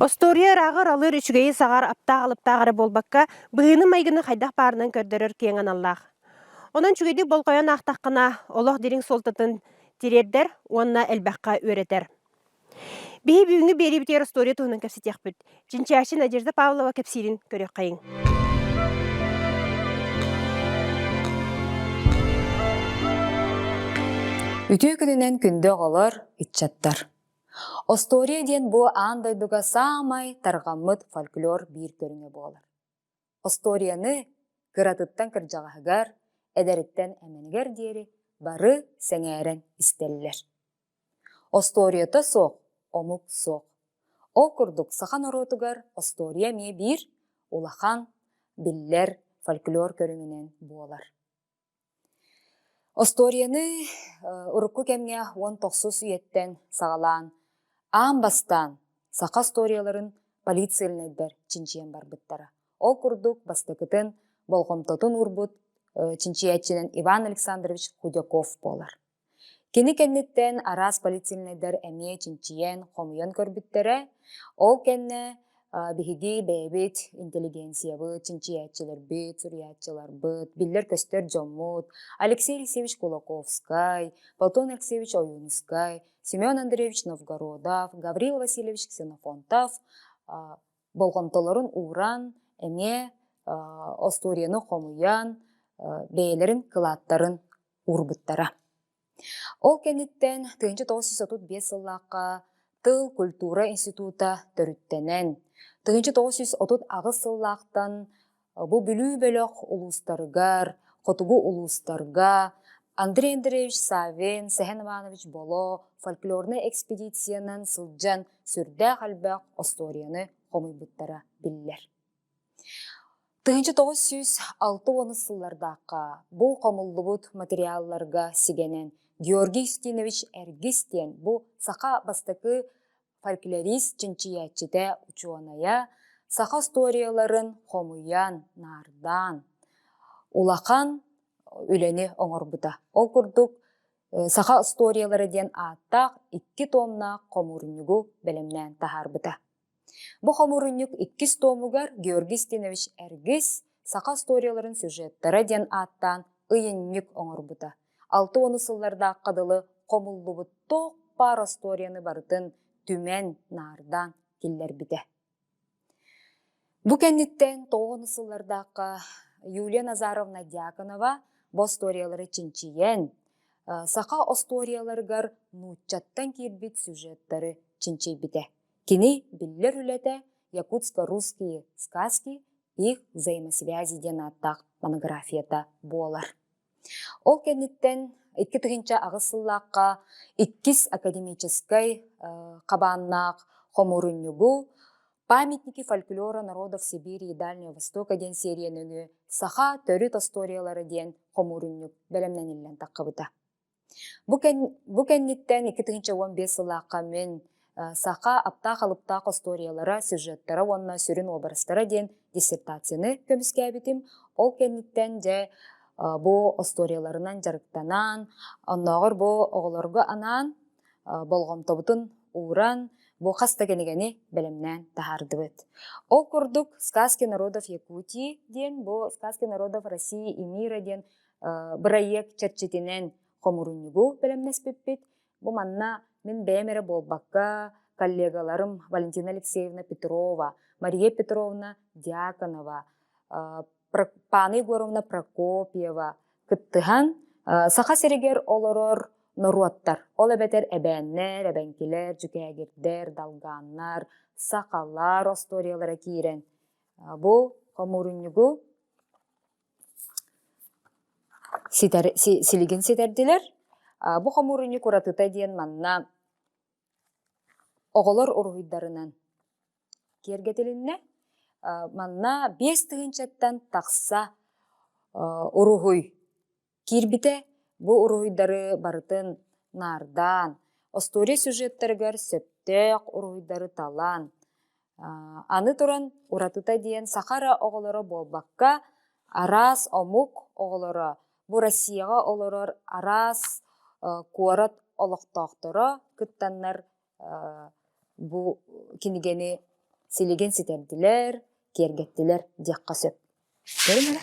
Остуоруйа ырааҕар алыр, үчүгэйи саҕар, аптаах-алыптаах эрэ буолбакка, быһыыны-майгыны хайдах баарынан көрдөрөр киэҥ аналлаах. Онон үчүгэйдик болҕойон аахтаххына, олох дириҥ суолтатын тириэрдэр уонна элбэххэ үөрэтэр. Биһи бүгүҥҥү биэриибитигэр остуоруйа туһунан кэпсэтиэхпит. Чинчээши Надежда Павлова кэпсиирин көрүөххэйиҥ. Үтүө күнүнэн күндү оҕолор, ыччаттар! Остуоруйа диэн бу аан дойдуга саамай тарҕаммыт фольклор биир көрүҥэ буолар. Остуоруйаны кыратыттан кырдьаҕаһыгар, эдэриттэн эмэнигэр диэри бары сэҥээрэн истэллэр. Остуоруйата суох, омук суох. Ол курдук саха норуотугар остуоруйа эмиэ биир улахан, биллэр фольклор көрүҥүнэн буолар. Остуоруйаны урукку кэмҥэ уон тохсус үйэттэн саҕалаан аан бастаан саха остуоруйаларын полицейнайдар чинчийэн барбыттара. Ол курдук бастакытын болҕомтотун уурбут чинчийээччинэн Иван Александрович Худяков буолар. Кини кэнниттэн араас полицейскайдар эмиэ чинчийэн, хомуйан көрбүттэрэ. Ол кэннэ биһиги бэйэбит интеллигенциябыт, чинчийээччилэрбит, суруйааччыларбыт, биллэр-көстөр дьоммут Алексей Алексеевич Кулаковскай, Платон Алексеевич Ойуунускай, Семен Андреевич Новгородов, Гаврил Васильевич Ксенофонтов болҕомтолорун ууран, эмиэ остуоруйаны хомуйан, бэйэлэрин кылааттарын уурбуттара. Ол кэнниттэн тыһыынча тоҕус жүз отут биэс сыллаахха Тыл культура института төрүттэнэн, тыһыынча тоҕус жүз отут аҕыс сыллаахтан бу Бүлүү бөлөх улуустарыгар, хотугу улуустарга Андрей Андреевич Савин, Сэһэн Иванович Боло фольклорнай экспедициянан сылдьан сүрдээх элбэх остуоруйаны хомуйбуттара биллэр. тыһыынча тоҕус сүүс алта уонус сыллардаахха бу хомуллубут материалларга сигэнэн георгий устинович эргис диэн бу саха бастакы фольклорист чинчийээччитэ учуонайа саха устуоруйаларын хомуйан наардаан улахан үлэни оҥорбута ол курдук саха устуоруйалара диэн ааттаах икки томнаах хомуурунньугу бэлэмнээн таһаарбыта Бу хомуурунньук иккис туомугар Георгий Стинович Эргис «Саха историяларын сюжеттара» диэн ааттаан ыйынньык оҥорбута. Алта уон сыллардаахха дылы хомуллубут туох баар остуоруйаны барытын түмэн, наардаан киллэрбитэ. Бу кэнниттэн тоҕуон сыллардаахха Юлия Назаровна Дьяконова бу остуоруйалары чинчийэн, саха остуоруйаларыгар нууччаттан киирбит сюжеттары чинчийбитэ. Кини биллэр үлэтэ «Якутско-русские сказки» их взаимосвязи диэн ааттаах монографията буолар. Ол кэнниттэн икки тыһыынча аҕыс сыллаахха иккис академическай хабааннаах хомуурунньугу «Памятники фольклора народов Сибири и Дальнего Востока» диэн серия нөҥүө «Саха төрүт остуоруйалара» диэн хомуурунньук бэлэмнэниллэн таххабыта. Бу, кэн, бу кэнниттэн икки тыһыынча уон биэс сыллаахха мин саха аптаах-алыптаах остуоруйалара, сюжеттара уонна сүрүн уобарастара диэн диссертацияны көмүскээбитим. Ол кэнниттэн дьэ бу остуоруйаларынан дьарыктанан, оннооҕор бу оҕолорго анаан болҕомтобутун ууран, бу хас да кинигэни бэлэмнээн таһаардыбыт. Ол курдук «Сказки народов Якутии» диэн бу «Сказки народов России и мира» диэн бырайыак чэрчитинэн хомурунньугу бэлэмнэспиппит. Бу манна мин бэйэм эрэ буолбакка, коллегаларым Валентина Алексеевна Петрова, Мария Петровна Дьяконова, Паана Егоровна Прокопьева кыттыһан Саха сиригэр олорор норуоттар, ол эбэтэр эбээннэр, эбэҥкилэр, дьүкээгирдэр, далгааннар, сахалар остуоруйалара киирэн бу хомурунньугу ситэр си силигин ситэрдилэр аа бу хомуурунньук уратыта диэн манна оҕолор уруһуйдарынан киэргэтилиннэ аа манна биэс тыһыынчаттан тахса аа уруһуй киирбитэ бу уруһуйдары барытын наардаан остуоруйа сюжеттарыгар сөптөөх уруһуйдары талан Аны туран уратыта диэн саха ыра оҕолоро буолбакка араас омук оҕолоро бу Россияҕа олорор араас куорат олохтоохторо кыттаннар бу кинигэни силигин ситэрдилэр, киэргэттилэр диэххэ сөп. Көрүҥ эрэ.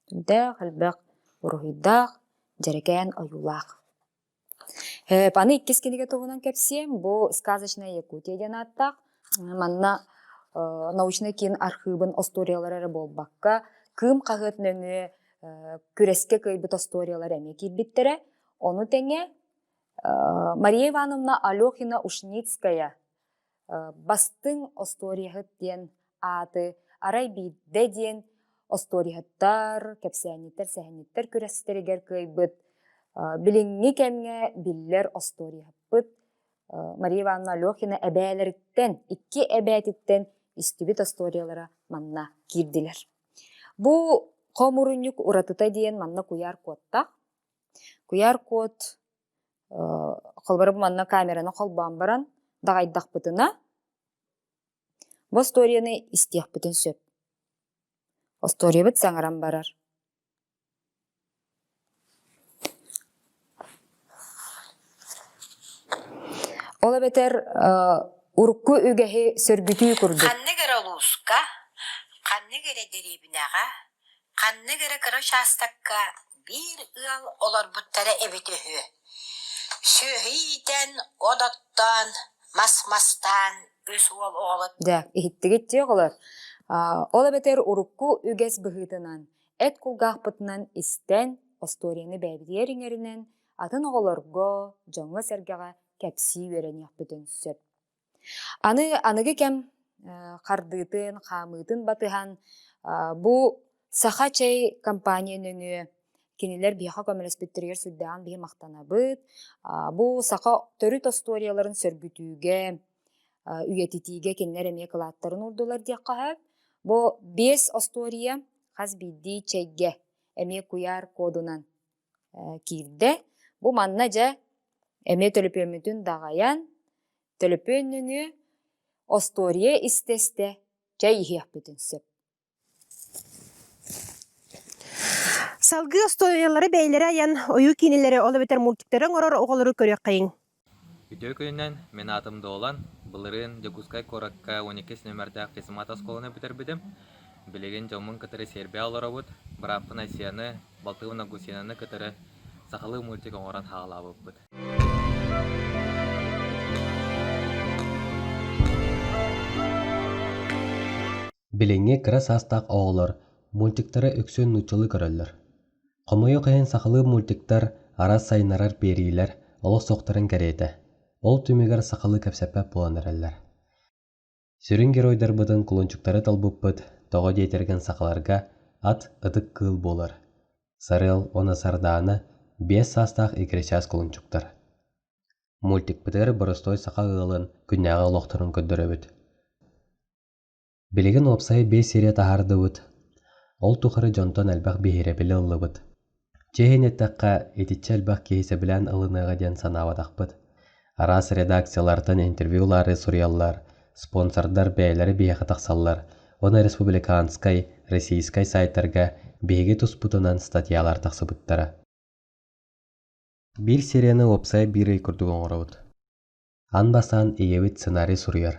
Көрдөөх, элбэх буруһуйдаах, дьэрэкээн ойуулаах. Аны иккис кинигэ туһунан кэпсиэм. Бу «Сказочная Якутия» диэн ааттаах. Манна научнай киин архыыбын остуоруйалара эрэ буолбакка, Кыым хаһыат нөҥүө күрэскэ кыайбыт остуоруйалар эмиэ киирбиттэрэ. Ону тэҥэ Мария Ивановна Алёхина-Ушницкая Бастыҥ остуоруйаһыт диэн ааты арай биирдэ диэн остуоруйаһыттар, кэпсээнньиттэр, сэһэнньиттэр күрэстэригэр кыайбыт билиҥҥи кэмҥэ биллэр остуоруйаһыппыт Мария Ивановна Алёхина эбээлэриттэн, икки эбээтиттэн истибит остуоруйалара манна киирдилэр. Бу хомурунньук уратыта диэн манна куйаар куоттаах. Куйаар куот холобурум манна камераны холбоон баран даҕайдахпытына остуоруйаны истиэхпитин сөп остуоруйабыт саҥаран барар ол эбэтэр урукку үгэһи сөргүтүү курдук ханнык эрэ улууска ханнык эрэ дэриэбинэҕэ ханнык эрэ кыра учаастакка биир ыал олорбуттара эбит үһү сүөһү иитэн от оттоон мас мастаан үс уол оҕолор да иһиттигит дии оҕолор ол эбэтэр урукку үгэс быһыытынан эт кулгаахпытынан истэн остуоруйаны бэйэбитигэр иҥэринэн атын оҕолорго дьоҥҥо-сэргэҕэ кэпсии үөрэниэхпитин сөп Аны аныгы кэм хардыытын, хаамыытын батыһан бу саха чэй компания нөҥүө кинилэр биһиэхэ көмөлөспүттэригэр сүрдээҕин биһи махтанабыт. Бу саха төрүт остуоруйаларын сөргүтүүгэ, үйэтитиигэ кинилэр эмиэ кылааттарын уурдулар диэххэ сөп. Бу биэс остуоруйа хас биирдии чэйгэ эмиэ куйаар кодунан киирдэ. Бу манна дьэ эмиэ төлөпүөммүтүн даҕайан, төлөпүөннүнү остуоруйа истэ-истэ чэй иһиэхпитин сөп. Салгыы остуоруйалары бэйэлэрэ айан, ойуу киинилэри, ол эбэтэр мультиктары оҥорор оҕолору көрүөххэйиҥ. Үтүө күнүнэн, мин аатым Долан, былырыын Дьокуускай куоракка уон иккис нөмэрдээх физмат оскуоланы бүтэрбитим. Билигин дьоммун кытары сиэрбэҕэ олоробут, бырааппын Айсианы, Балтыбын Августинаны кытары сахалыы мультик оҥорон саҕалаабыппыт. Билиҥҥи кыра саастаах оҕолор мультиктары үксүн нууччалыы көрөллөр. Хомойуох иһин сахалыы мультиктар арас сайыннарар биэриилэр олох суохтарын кэриэтэ, ол түмүгэр сахалыы кэпсэппэт буолан эрэллэр. Сүрүн геройдарбытын кулунчуктары толбуппут тоҕо диэтэргин сахаларга ат ытык кыыл буолар. Сарыал уонна Сардаана биэс саастаах иккисчаас кулунчуктар. Мультикпытыгар боростуой саха ыалын күннээҕи олохторун көрдөрөбүт. Билигин уопсайа биэс сири таһаардыбыт, ол тухары дьонтон элбэх биһирэбили ыллыбыт. Чэ иһин эттэххэ, итиччэ элбэх киһи сөбүлээн ылыныаҕа диэн санаабатахпыт. Араас редакциялартан интервью ылаары суруйаллар, спонсордар бэйэлэрэ биһиэхэ тахсаллар, уонна республиканскай, российскай саайтарга биһиги туспутунан статьялар тахсыбыттара. Биир серияны уопсайа биир ый курдук оҥоробут. Ан бастаан ийэбит сценарий суруйар.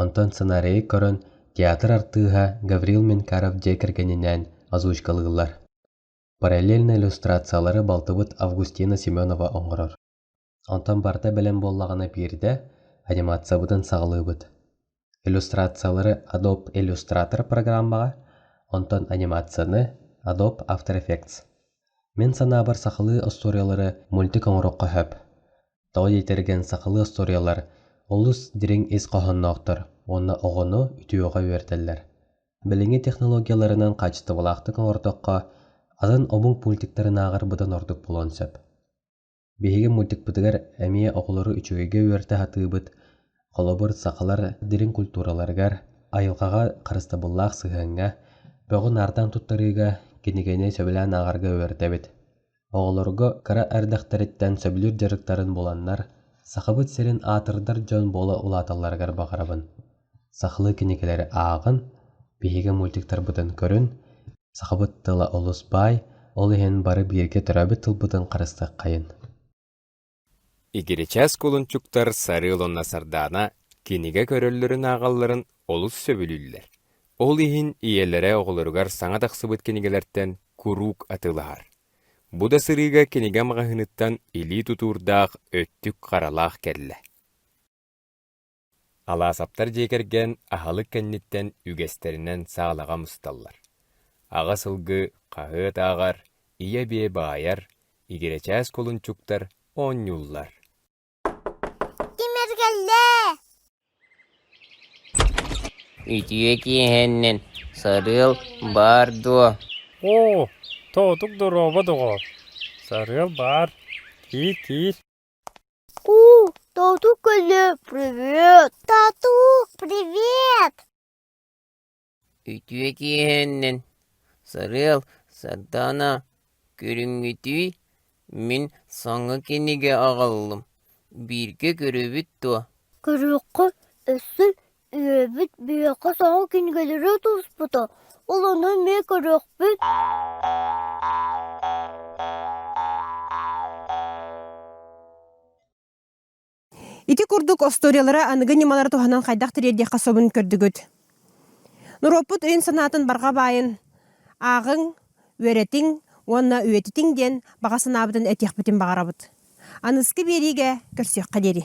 Онтон сценарийы көрөн, театр артыыһа Гаврил Менкаров дьиэ кэргэнинээн озвучкалыыллар. Параллельно иллюстрациялары балтыбыт Августина Семенова оҥорор. Онтон барыта бэлэм буоллаҕына биирдэ анимациябытын саҕалыыбыт. иллюстрациялары Adobe Illustrator программаҕа, онтон анимацияны Adobe After Effects. Мин санаабар сахалыы остуоруйалары мультик оҥоруохха сөп. Тоҕо диэтэргэн сахалыы остуоруйалар олус дириҥ ис хоһоонноохтор уонна оҕону үтүөҕэ үөрэтэллэр. Билиҥҥи технологияларынан хаачыстыбалаахтык оҥордоххо, атын омук мультиктарынааҕар быдан ордук буолуон сөп. Биһиги мультикпытыгар эмиэ оҕолору үчүгэйгэ үөрэтэ сатыыбыт. Холобур, сахалар дириҥ культураларыгар, айылҕаҕа харыстабыллаах сыһыаҥҥа, бөҕү наардаан туттарыыга, кинигэни сөбүлээн ааҕарга үөрэтэбит. Оҕолорго кыра эрдэхтэриттэн сөбүлүүр дьарыктарын буланнар, Сахабыт сирин аатырдар дьон буола улааталларыгар баҕарабын. Сахалыы кинигэлэри ааҕын, биһиги мультиктарбытын көрүн, Сахабыт тыла олус баай, ол иһин бары бииргэ төрөөбүт тылбытын харыстыаххайын. Игиричэс кулунчуктар Сарыыл уонна Сардаана кинигэ көрөллөрүн ааҕалларын олус сөбүлүүллэр. Ол иһин ийэлэрэ оҕолоругар саҥа тахсыбыт кинигэлэртэн куруук атыылаһар. Бу да сырыыга кинигэ маҕаһыыныттан илии тутуурдаах өттүк харалаах кэллэ. Алаасаптар дьиэ кэргэн аһылык кэнниттэн үгэстэринэн саалаҕа мусталлар. Аҕа сылгы хаһыат ааҕар, ийэ-бие баайар, игирэчээс кулунчуктар оонньууллар. Имэргэллээ! Үтүө киэһэннэн сарыал баар дуо? Оо, тоотук доруоба доҕоор. Сарыал баар. Киир, киир. У, тату-көлө, привет, тату-привет! Үтүө киэһэннэн, Сарыал, Сардаана, көрүҥҥүтүй? Мин саҥа кинигэ аҕаллым. Бииргэ көрөбүт дуо? Көрүөххэ, өссө Үөбүт биһиэхэ соҕус кинигэлэри туспута, ол ону эмиэ көрүөхпүт Ити курдук остуориялара аныгы ньымалары туһанан хайдах тириэрдиэххэ собун көрдүгүт? Норуоппут өйүн-санаатын барҕа баайын ааҕыҥ, үөрэтиҥ уонна үйэтитиҥ диэн баҕа санаабытын этиэхпитин баҕарабыт. Аныскы биэриигэ көрсүөххэ диэри.